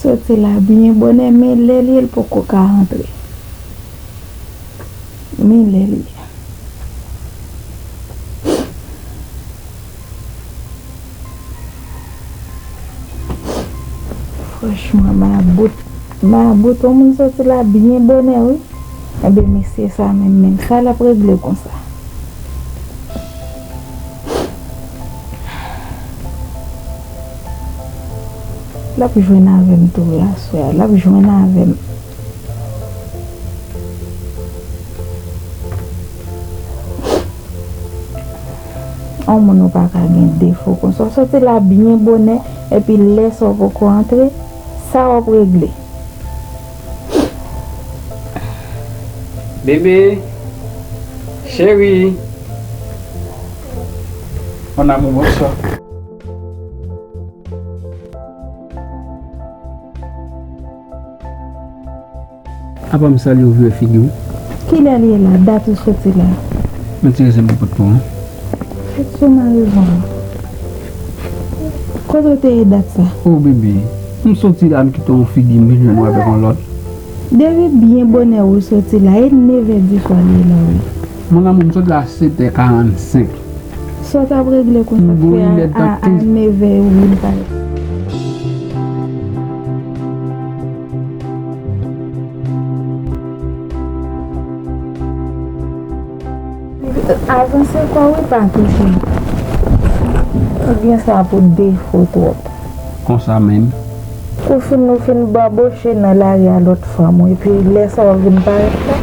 Soti la byen bonè men lè l ye l poko ka antre. Men lè l ye. Franchman mabout mabout on moun soti la byen bonè wi. Enben mesye sa menm menm sa l ap regle konsa. Lap jwenn avèm tou wi aswè a lap jwenn avèm. On moun ou paka gen defo konsa ou soti la byen bonè epi lè sa ou poko antre sa wap regle. Bebe Cheri Mon amour bonswa. Apa m salye w vire figi w. Kilè li ye la? Dat ou soti la? Mwen ti rese m pou pot pou ou. Sou marivwa. Kote w te ye dat sa? Oh bebe. M soti la m kite yon figi m vin jwenn ou avèk yon lòt. Depi byen bonè ou soti la e 9 è di swa li ye la wi. Mon amour m soti la a 7 è 45. Sa w t ap regle kont sa k fè a 9 è ou vin pale. Avanse kò wi pa touche. Ou gen sa pou defo twòp. Konsa menm. Ou fin ou fin baboche nan lari a lòt fanm ou epi lè sa ou vin parèt la.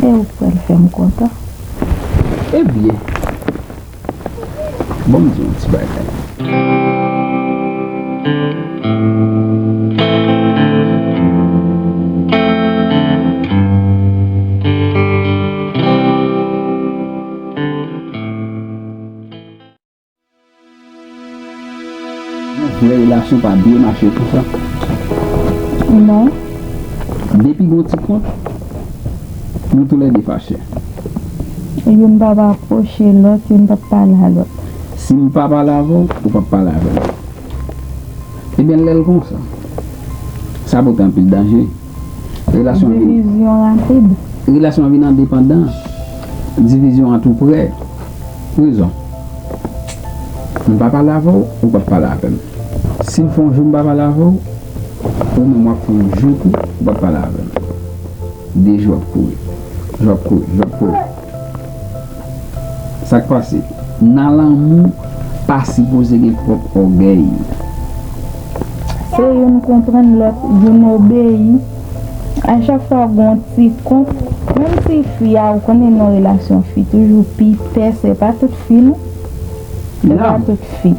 Lè ou pral fè m kontan. Ebyen, ban m di w yon ti bagay. Monchè relasyon pa byen mache pousa non depi gon ti kont nou tou lè 2 fache. Youn pap apwoche lòt youn pap pale a lòt. Sim pa pale avè w ou pap pale avè m ebyen lèl konsa sa pote anpil danje. Relasyon an vin. Divizyon rapid. Relasyon an vin endepandan. Divizyon an tou prè. Rezon. M pa pale avè w, ou p ap pale avè m. Si m fè yon jou m pa pale avè w, ou menm w ap fè yon jou tou, ou p ap pale avè m. De jou ap kouri. Jou ap kouri. Jou ap kouri. Sak pase? Nan lanmou pa sipoze gen twòp ògèy. Se youn konprann lòt, youn obeyi. A chak fwa gon ti kont, menm si fi a ou konnen non relasyon fi toujou pi pès e pa tout fi non. E pa tout fi.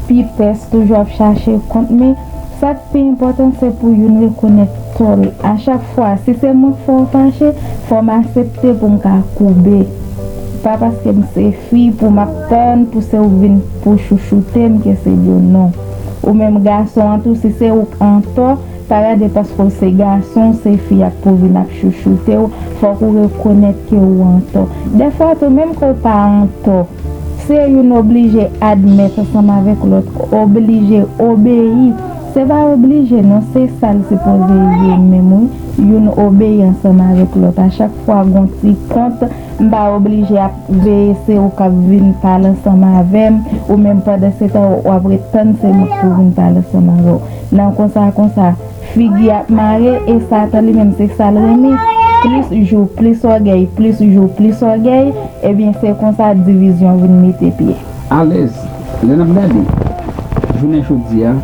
Pi pès toujou ap chache kont men. Sa k pi enpòtan se pou youn rekonèt tò l. A chak fwa, si se mwen k fè w fache, fò m asepte pou m ka koube. Pa paske m se fi pou m ap tann pou se ou k vin pou chouchoute m ke se byen non. Ou menm gason an tou si se ou k antò, pa gade paske w se gason w se fi a k pou vin ap chouchoute w, fòk ou rekonèt ke ou antò. Dèfwa tou menm ke w pa antò. Se youn oblije admèt ansanm avèk lòt, oblije obeyi. Se pa oblije non, se sa l sipoze ye menm wi, youn obeyi ansanm avèk lòt. A chak fwa gon ti kont, m pa oblije ap veye se ou k ap vin pale ansanm avè m, ou menm pandansetan w ap ret tann se m k pou vin pale ansanm avè w. Nan konsa konsa. Figi ap mare e satan li menm se sal renmen plis jou plis ògèy plis jou plis ògèy ebyen se konsa divizyon vin mete pye. Alèz, lè nap gade jounen jodia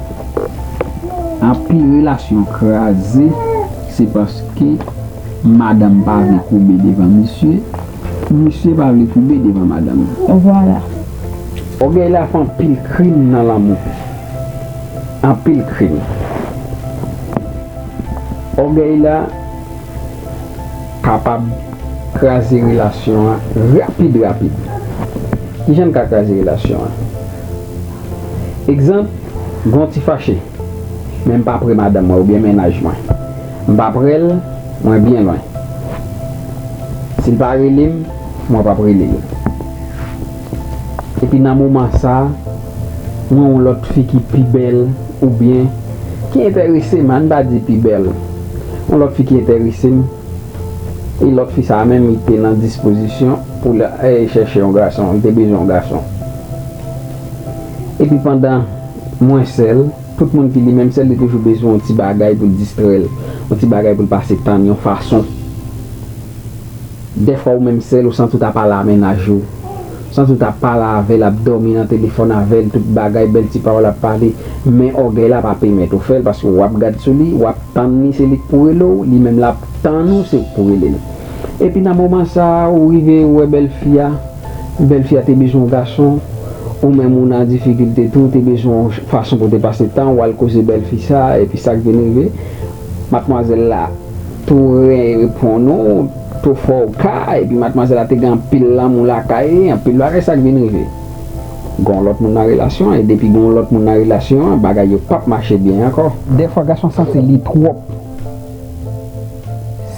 anpil relasyon kraze se paske madanm pa vle koube devan misye, misye pa vle koube devan madanm. Vwala. Ògèy la fè anpil krim nan lanmou. anpil krim. Ògèy la kapab kraze relasyon an rapid rapid. Ki jan l ka kraze relasyon an? Egzanp, Gen yon ti fache, men m pa pre madanm mwen oubyen mennaj mwen. M pa pre l, mwen byen lwen. Si l pa rele m, mwen pap rele l. Epi nan moman sa mwen yon lòt fi ki pi bèl ou byen ki entèresem ann pa di pi bèl yon lòt fi ki entèresem e lòt fi sa menm li te nan dispozisyon pou l al chèche yon gason li te bezwen yon gason epi pandan mwen sèl tout moun ki li menm sèl li toujou bezwen yon ti bagay pou l distrè l yon ti bagay pou l pase tan l yon fason. Dèfwa ou menm sèl ou santi w ta pale a mennaj ou. Santi w ta pale avè l, ap dòmi nan telefòn avè l, tout bagay, bèl ti pawòl ap pale. Men ògèy la pa pemèt ou fè l paske w ap gad sou li, w ap tann li se li k pou rele w, li menm l ap tann ou se ou k pou rele l. Epi nan moman sa a ou rive ou wè bèl fi a, bèl fi a te bezwen w gason, ou menm ou nan difikilte tou, ou te bezwen w fason pou w te pase tan, w al koze bèl fi sa a epi sa k vin rive, matmwazèl la. Pou reponn ou, to fò ou ka, epi matmwazèl la te gen anpil lanmou lakay li, anpil bagay sa k vin rive. Gen yon lòt moun nan relasyon an, e depi gen yon lòt moun nan relasyon an, bagay yo pap mache byen ankò. Dèfwa gason santi li twòp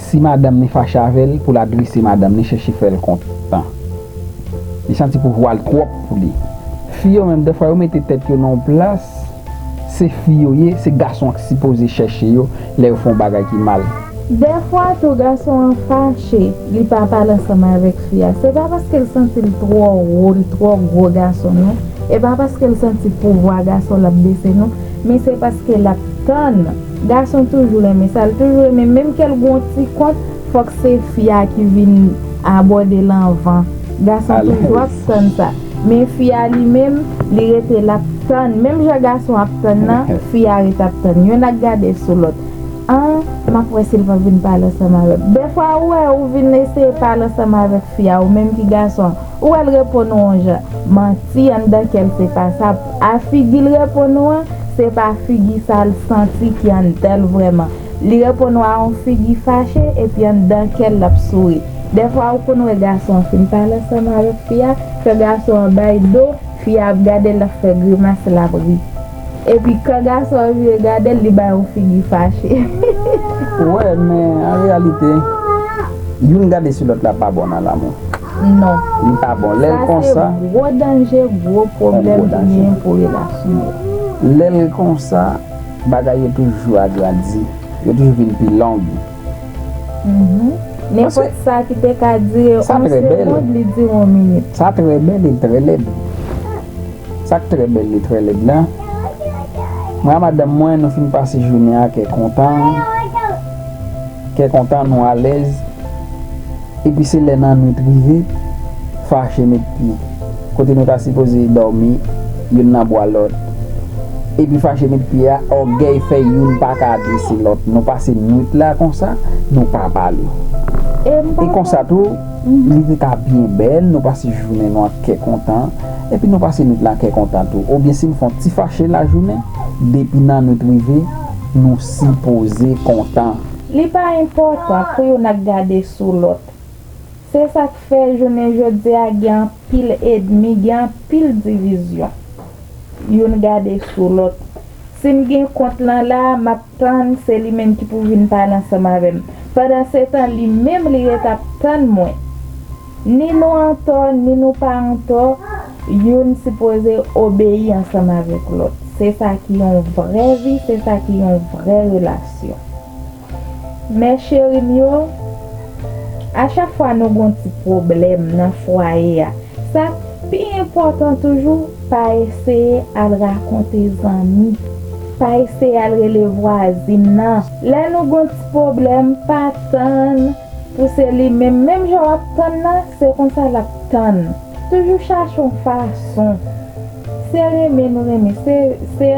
si madanm ni fache avè l pou l adrese madanm ni chèche fè l kontan. Li santi pouvwa l twòp pou li. Fi yo menm dèfwa yo mete tèt yo nan yon plas. Se fi yo ye, se gason an ki sipoze chèche yo lè yo fè yon bagay ki mal. Dèfwa tou gason an fache li pa pale ansanm avèk fi a, se pa paske l santi l twò wo, l twò gwo gason non, e pa paske l santi pouvwa gason l ap bese non, men se paske l ap tann, gason toujou renmen sa l toujou renmen menm ke l gen yon ti kont fòk se fi a ki vin abòde l anvan, gason toujou ap tann sa. Men fi a li menm, li rete l ap tann. Menm jan gason ap tann nan, fi a ret ap tann. Yonn ak gade sou lòt. An, m ap wè si l p ap vin pale ansanm avè m. Dèfwa ou wè, ou vin eseye pale ansanm avèk fi a, ou menm ki gason an. Ou wè l reponn ou on jan. Manti, anndan kè l se pa sa. A figi l reponn ou an, se pa figi sa l santi ki anndan l vrèman. Li reponn w a yon figi fache epi anndan kè l l ap souri. Dèfwa ou konn wè gason an fin pale ansanm avèk fi a, kan gason an bay do, fi a ap gade l l ap fè grimas l ap ri. Epi kan gason an vire gade l li bay yon figi fache. Ou wè, men an reyalite, youn gade sou lòt la pa bon nan lanmou. Non. Li pa bon. Lè l konsa. Sa se gwo danje, gwo pwoblèm ki genyen pou relasyon yo. Lè l konsa. Bagay yo toujou agrandi. Yo toujou vin pi long. Nenpòt sa ki te ka dire on segond li dire on minit. Sa trè bèl e l trè lèd. Sa k trè bèl li trè lèd la, mwen a madanm mwen nou fin pase jounen an kè kontan, kè kontan nou alèz. Epi se lè nan nwit rive, fache met pye, kote nou ta sipoze dòmi, youn nan bwa lòt. Epi fache met pye a, ògèy fè youn pa ka adrese lòt. Nou pase nwit la konsa, nou pa pale. E konsa tou, li te ka byen bèl, nou pase jounen nou an kè kontan, epi nou pase nwit la an kè kontan tou. Oubyen si n fè yon ti fache lajounen, depi nan nwit rive, nou sipoze kontan. Li pa enpòtan pou youn ak gade sou lòt. Se sa k fè jounen jodi a gen anpil edmi, gen anpil divizyon. Youn gade sou lòt. Si m gen kont lan la a, m ap tann se li menm ki pou vin pale ansanm avè m. Pandansetan li menm li ret ap tann mwen. Ni nou antò ni nou pa antò, youn sipoze obeyi ansanm avèk lòt. Se sa ki yon vrè vi, se sa ki yon vrè relasyon. Mè cheri m yo, a chak fwa nou gen yon ti pwoblèm nan fwaye a, sa k pi enpòtan toujou, pa eseye al rakonte zanmi, pa eseye al rele vwazin nan. Lè nou gen yon ti pwoblèm, pa tann. Pou se li menm menm jan wap tann la se konsa lap tann toujou chache yon fason se renmen nou renmen se se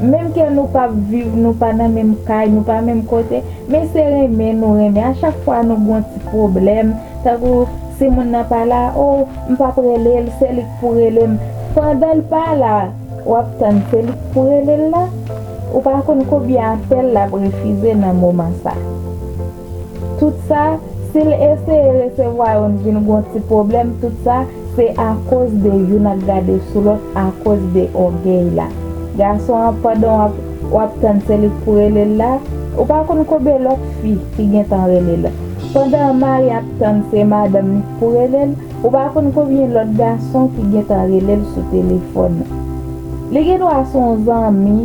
menm ke nou pap viv nou pa nan menm kay nou pa menm kote men se renmen nou renmen a chak fwa nou gon ti pwoblèm tankou si moun nan pa la oh m pap rele l se li k pou rele m pandan l pa la wap tann se li k pou rele l la ou pa konn konbyen apèl lap refize nan moman sa. Tout sa, si l eseye resevwa youn vin gon ti pwoblèm tout sa, se akoz de youn ap gade sou lòt akoz de ògèy la. Gason an pandan w ap w ap tann se li k pou rele l la, ou pa konn konbe lòt fi ki gentan rele l. Pandan an mari ap tann se madanm li k pou rele l, ou pa konn konbyen lòt gason ki gentan rele l sou telefòn. Li gen dwa s on zanmi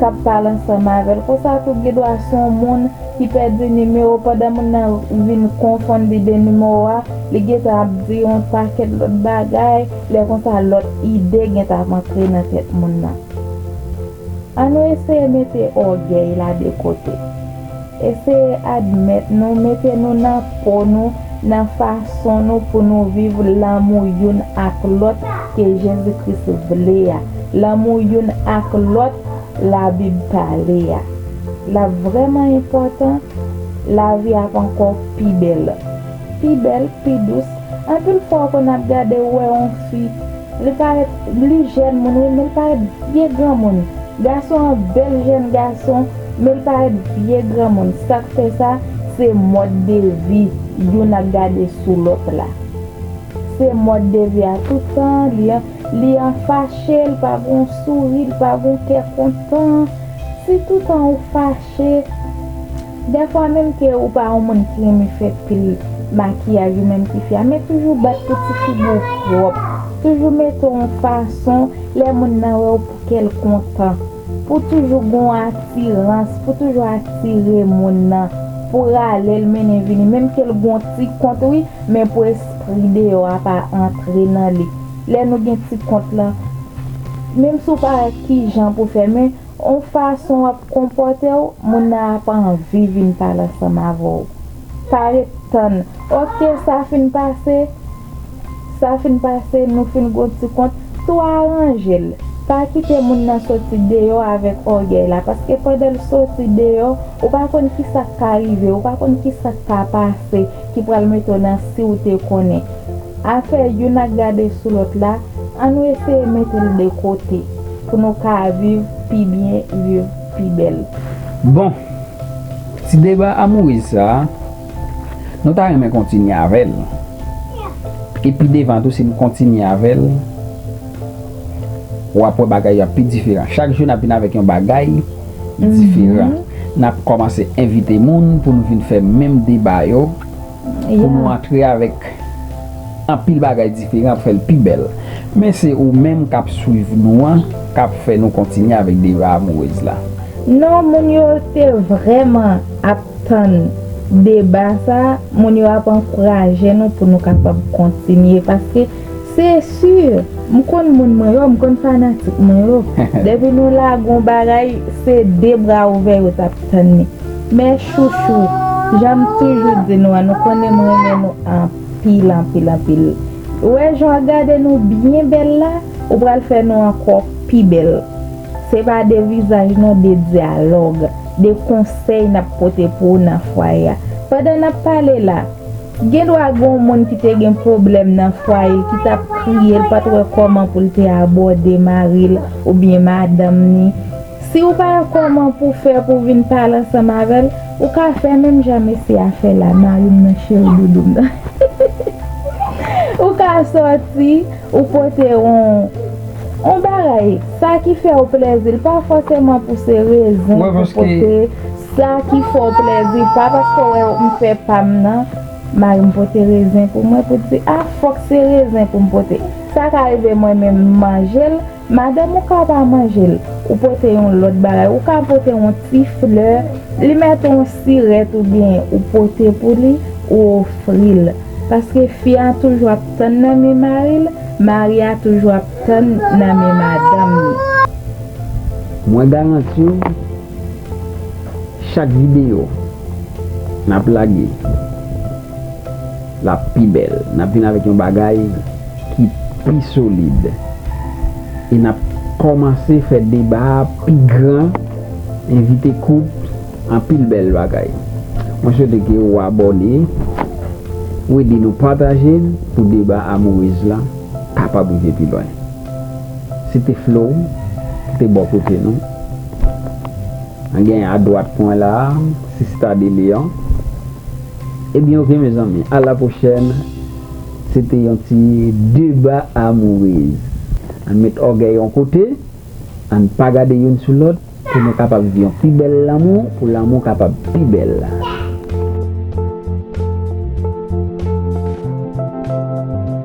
k ap pale ansanm avè l konsa tou gen dwa s on moun ki pèdi nimewo pandan moun nan vin konfonn li de nimewo a, li gentan ap di yon pakèt lòt bagay, lè konsa lòt ide gentan ap antre nan tèt moun nan. An nou eseye mete ògèy la de kote. Eseye admèt nou, mete nou nan po nou, nan fason nou pou nou viv lanmou youn ak lòt ke Jezi Kris vle a, lanmou youn ak lòt Labib pale a. L ap vrèman enpòtan, lavi ap ankò pi bèl. Pi bèl, pi dous. Anpil fwa ou konn ap gade ou wè yon fi, li parèt, li jèn moun wi men li parèt vye granmoun. Gason an bèl jèn gason men li parèt vye granmoun. Sa k fè sa, se mòd de vi youn ap gade sou lòt la. Se mòd de vi a tout tan an li an. Li an fache, l pa gon souri, l pa gon kè kontan. Si toutan ou fache, dèfwa menm ke ou pa yon moun ki renmen fè pil makiyaj ou menm tifi a, men toujou bat pou ti figi w pwòp. Toujou mete w yon fason lè moun nan wè w pou kè l kontan. Pou toujou gon atirans, pou toujou atire moun nan, pou rale l mennen vini. Menm ke l gon ti kont wi, men pou espri deyò a pa antre nan li. Lè nou gen ti kont lan, menm si w pa wè kijan pou fè men, on fason w ap konpòte w, moun nan ap anvi vin pale ansanm avè w. Pa ret tann, ok sa fin pase, sa fin pase, nou fin gen on ti kont, tou aranje l. Pa kite moun nan soti deyò avèk ògèy la, paske pandan l soti deyò, ou pa konn kisa k ka rive, ou pa konn kisa k ka pase ki pral mete w nan si w te konnen. Afè youn ak gade sou lòt la, an nou eseye mete l de kote pou nou ka viv pi byen, viv pi bèl. Bon, ti deba amouriz sa a, nou ta renmen kontinye avè l. E pi devan tou si n kontinye avè l, w ap wè bagay yo ap pi diferan. Chak jou n ap vin avèk yon bagay diferan. N ap kòmanse envite moun pou nou vin fè menm deba yo. pou nou antre avèk anpil bagay diferan ap fèl pi bèl men se ou menm kap swiv nou an kap fè nou kontinye avèk Deva amourez la. Non moun yo te vrèman ap tann deba sa moun yo ap ankouraje nou pou nou kapab kontinye paske. Se sûr! M konn moun mwen yo, m konn fanatik mwen yo. Depi nou lage yon bagay, se 2 bra ouvè yo t ap tann li. Mes chouchous, jan m toujou di nou an, nou konnen m renmen nou anpil, anpil, anpil. Wè jan w ap gade nou byen bèl la, ou pral fè nou ankò pi bèl. Se pa de vizaj non, de dyalòg, de konsèy n ap pote pou ou nan fwaye a. Pandan n ap pale la, Gendwa gen yon moun ki te gen pwoblèm nan fwaye ki t ap kriye l pa t wè kòman pou l te abòde mari l oubyen madanm ni. Si ou pa wè kòman pou w fè pou w vin pale ansanm avè l, ou ka fè menm jan mesye a fè la, mari m nan cheri doudou m nan. Ou ka sòti, ou pote yon yon bagay, sa ki fè w plezi l, pa fòseman pou se rezon pou w pote. Sa ki fè w plèzi pa paske w wè yo m fè pa m nan Mari m pote rezen pou mwen pou di a fòk se rezen pou m pote Sa ka rive mwen menm m manje l Madanm ou ka pa manje l Ou pote yon lòt bagay Ou ka pote yon ti flè Li mèt yon sirèt oubyen ou pote pou li Ou ofri l Paske fi a toujou ap tann nan men mari l Mari a toujou ap tann nan men madanm li Mwen garanti w Chak video nap lage lap pi bèl nap vin avèk yon bagay ki pi solid e nap kòmanse fè deba a pi gran envite kout anpil bèl bagay mwen swete ke ou abòne ou ede nou pataje l pou deba amourez la kapab rive pi lwen se te Flo ki te bò kote nou. Mwen gen adwat mwen la sista de leon. Ebyen ok mezanmi a la pwochèn se te yon ti deba amourez ann met ògèy yon kote ann pa gade youn sou lòt pou nou kapab viv yon pi bèl lanmou pou lanmou kapab pi bèl.